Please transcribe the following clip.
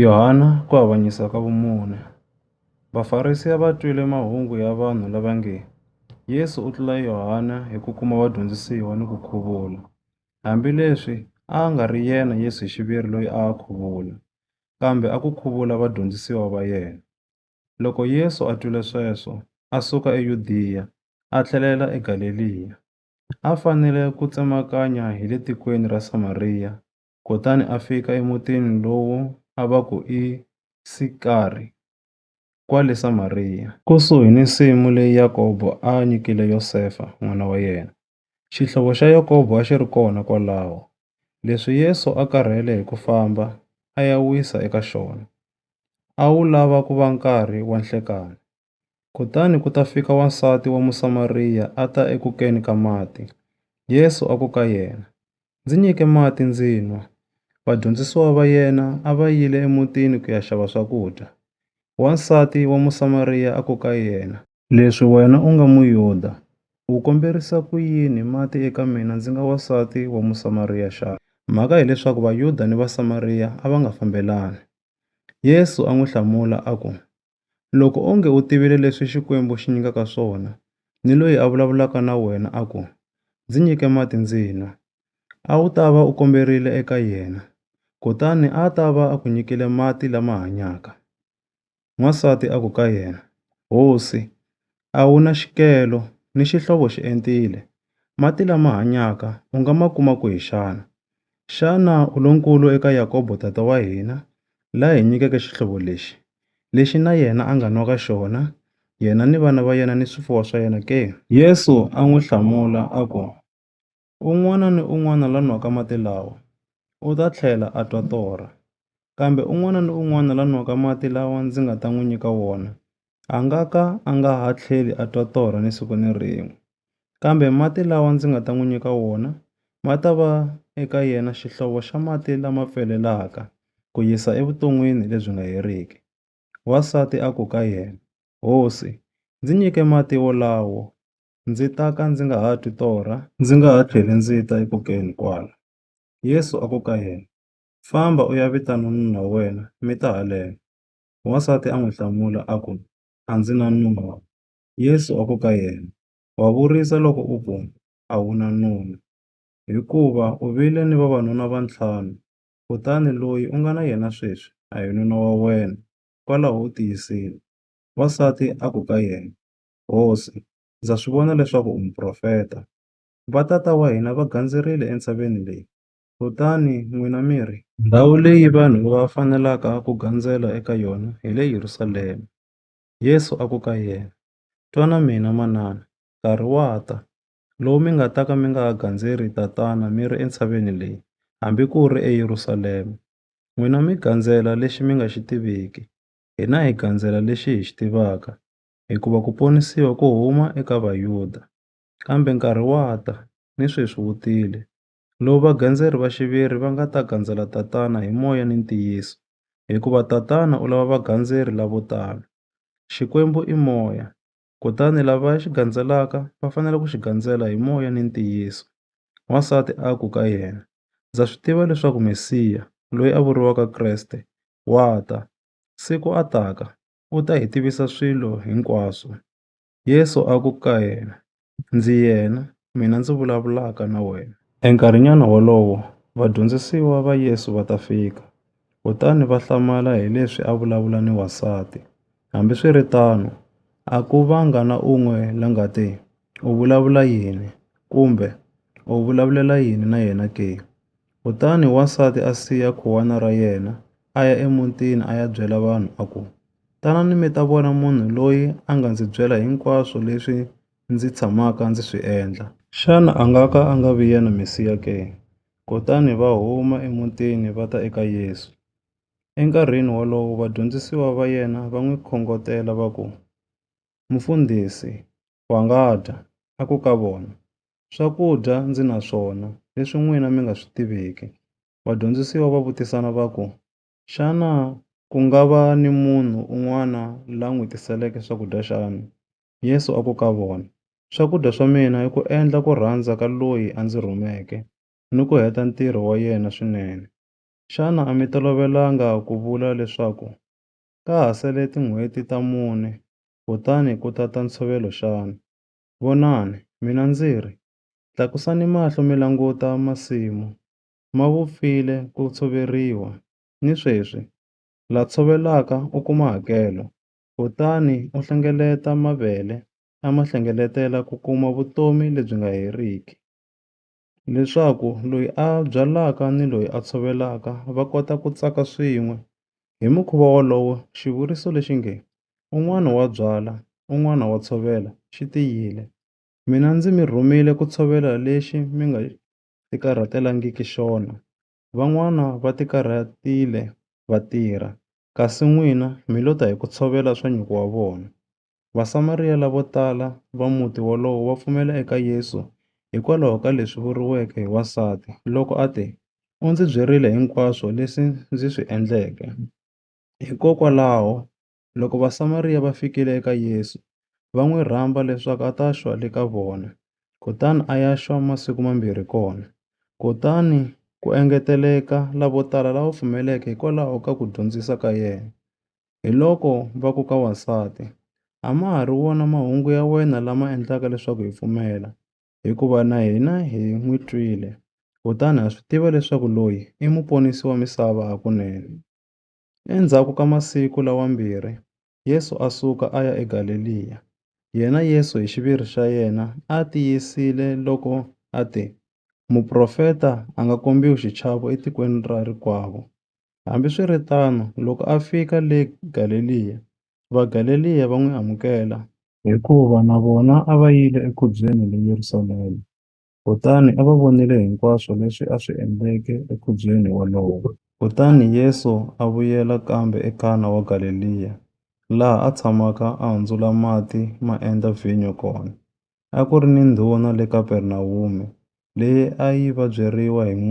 Yohana ku avanyisa ka vumune. Vafarisi a va twile mahungu ya vanhu lava nge, Yesu u tlula Yohana hi ku kuma vadyondzisiwa ni ku khuvula. Hambi leswi a a nga ri yena Yesu hi xiviri loyi a a khuvula, kambe a ku khuvula vadyondzisiwa va yena. Loko Yesu a twile sweswo, a suka eYudiya a tlhelela eGaleliya. A fanele ku tsemakanya hi le tikweni ra Samariya. kutani a fika emutini lowu a va ku i Sikari, kwale Samariya. Kusuhi ni nsimu leyi Yakobo a a nyikile Yosefa, n'wana wa yena, xihlovo xa Yakobo a xi ri kona kwalaho. Leswi Yesu a karhele hi ku famba a ya wisa eka xona, a wu lava ku va nkarhi wa nhlekani. Kutani ku ta fika wansati wa Musamariya a ta eku keni ka mati. Yesu a ku ka yena, Ndzi nyike mati ndzi nwa. Vadyondzisiwa va yena a va yile emutini ku ya xava swakudya. Wansati wa Musamariya a ku ka yena, Leswi wena u nga Muyuda, u komberisa ku yini mati eka mina ndzi nga wansati wa Musamariya xana? Mhaka hi leswaku Vayuda ni Vasamariya a va nga fambelani. Yesu a n'wi hlamula a ku, Loko onge u tivile leswi Xikwembu xi nyikaka swona, ni loyi a vulavulaka na wena a ku, Ndzi nyike mati ndzi nwa, a wu ta va u komberile eka yena, kutani a a ta va a ku nyikile mati lama hanyaka. N'wansati a ku ka yena, Hosi, a wu na xikelo ni xihlovo xi entile. Mati lama hanyaka u nga ma kuma kwihi xana? Xana u lonkulu eka Yakobo tata wa hina, la hi nyikeke xihlovo lexi, lexi na yena a nga nwaka xona, yena ni vana va yena ni swifuwo swa yena ke? Yesu a n'wi hlamula a ku, Un'wana ni un'wana la nwaka mati lawa, u ta tlhela a twa torha. Kambe un'wana ni un'wana la nwaka mati lawa ndzi nga ta n'wi nyika wona, a nga ka a nga ha tlheli a twa torha ni siku ni rin'we. Kambe mati lawa ndzi nga ta n'wi nyika wona, ma ta va eka yena xihlovo xa mati lama pfelelaka, ku yisa evuton'wini lebyi nga heriki. Wansati a ku ka yena, Hosi, ndzi nyike mati wolawo. Ndzi ta ka ndzi nga ha twi torha, ndzi nga ha tlheli ndzi ta eku keni kwala. Yesu a ku ka yena, Famba u ya vita nun'una wa wena mi ta haleno. Wansati a n'wi hlamula a ku, A ndzi na nuna. Yesu a ku ka yena, Wa vurisa loko u ku, A wu na nuna. Hikuva u vile ni vavanuna va ntlhanu, kutani loyi u nga na yena sweswi a hi nuna wa wena, kwalaho u tiyisile. Wansati a ku ka yena, Hosi, ndza swi vona leswaku u muprofeta. Vatata wa hina va gandzerile entshaveni leyi, kutani n'wina mi ri, Ndhawu leyi vanhu va fanelaka ku gandzela eka yona hi le Yerusalema. Yesu a ku ka yena, Twa na mina, manana, nkarhi wa ta, lowu mi nga ta ka mi nga ha gandzeri Tatana mi ri entshaveni leyi, hambi ku ri eYerusalema. N'wina mi gandzela lexi mi nga xi tiviki, hina hi gandzela lexi hi xi tivaka, hikuva ku ponisiwa ku huma eka Vayuda. Kambe nkarhi wa ta, ni sweswi wu tile, lowu vagandzeri va xiviri va nga ta gandzela Tatana hi moya ni ntiyiso, hikuva Tatana u lava vagandzeri lavo tano. Xikwembu i Moya, kutani lava xi gandzelaka va fanele ku xi gandzela hi moya ni ntiyiso. Wansati a ku ka yena, Ndza swi tiva leswaku Mesiya, loyi a vuriwaka Kreste, wa ta. Siku a taka, u ta hi tivisa swilo hinkwaswo. Yesu a ku ka yena, Ndzi yena, mina ndzi vulavulaka na wena. Enkarhinyana wolowo, vadyondzisiwa va Yesu va ta fika, kutani va hlamala hi leswi a vulavula ni wansati. Hambiswiritano, a ku vanga na un'we la nga te, U vulavula yini? kumbe, U vulavulela yini na yena ke? Kutani wansati a siya khuwana ra yena, a ya emutini a ya byela vanhu a ku, Tanani mi ta vona munhu loyi a nga ndzi byela hinkwaswo leswi ndzi tshamaka ndzi swi endla. Xana a nga ka a nga vi yena Mesiya ke? Kutani va huma emutini va ta eka Yesu. Enkarhini wolowo vadyondzisiwa va yena va n'wi khongotela va ku, Mufundhisi! Wangata a ku ka vona, Swakudya ndzi na swona, leswi n'wina mi nga swi tiviki. Vadyondzisiwa va vutisana va ku, Xana ku nga va ni munhu un'wana la n'wi tiseleke swakudya xana? Yesu a ku ka vona, Swakudya swa mina i ku endla ku rhandza ka loyi a ndzi rhumeke ni ku heta ntirho wa yena swinene. Xana a mi tolovelanga ku vula leswaku, Ka ha sele tin'hweti ta mune kutani ku ta ta ntshovelo xana? Vonani, mina ndzi ri, Tlakusani mahlo mi languta masimu, ma vupfile ku tshoveriwa, ni sweswi, la tshovelaka u kuma hakelo, kutani u hlengeleta mavele, a ma hlengeletela ku kuma vutomi lebyi nga heriki. leswaku loyi a byalaka ni loyi a tshovelaka va kota ku tsaka swin'we. Hi mukhuva wolowo xivuriso lexi nge, un'wana wa byala un'wana wa tshovela xi tiyile. Mina ndzi mi rhumiwile ku tshovela lexi mi nga ti karhatelangiki xona, van'wana va ti karhatile va tirha kasi n'wina mi lo ta hi ku tshovela swa nyuku wa vona. Vasamariya lavo tala va muti wolowo va pfumela eka Yesu hikwalaho ka leswi vuriweke hi wansati loko a te, U ndzi byerile hinkwaswo leswi ndzi swi endleke. Hikokwalaho loko Vasamariya va fikile eka Yesu, va n'wi rhamba leswaku a ta xwa le ka vona, kutani a ya xwa masiku mambirhi kona. Kutani ku engeteleka lavo tala lava pfumeleke hikwalaho ka ku dyondzisa ka yena. Hiloko va ku ka wansati, A ma ha ri wona mahungu ya wena lama endlaka leswaku hi pfumela, hikuva na hina hi n'wi twile, kutani ha swi tiva leswaku loyi i Muponisi wa misava hakunene. Endzhaku ka masiku lawambirhi, Yesu a suka a ya eGaleliya, yena Yesu hi xiviri xa yena a tiyisile loko a te, Muprofeta a nga kombiwi xichavo etikweni ra rikwavo. Hambiswiritano, loko a fika le Galeliya, Vagaleliya va n'wi amukela, hikuva na vona a va yile ekhubyeni le Yerusalema, kutani a va vonile hinkwaswo leswi a swi endleke ekhubyeni wolowo. Kutani Yesu a vuyela kambe eKana wa Galeliya, laha a tshamaka a hundzula mati ma endla vhinyo kona. A ku ri ni ndhuna le Kapernawume, leyi a yi vabyeriwa hi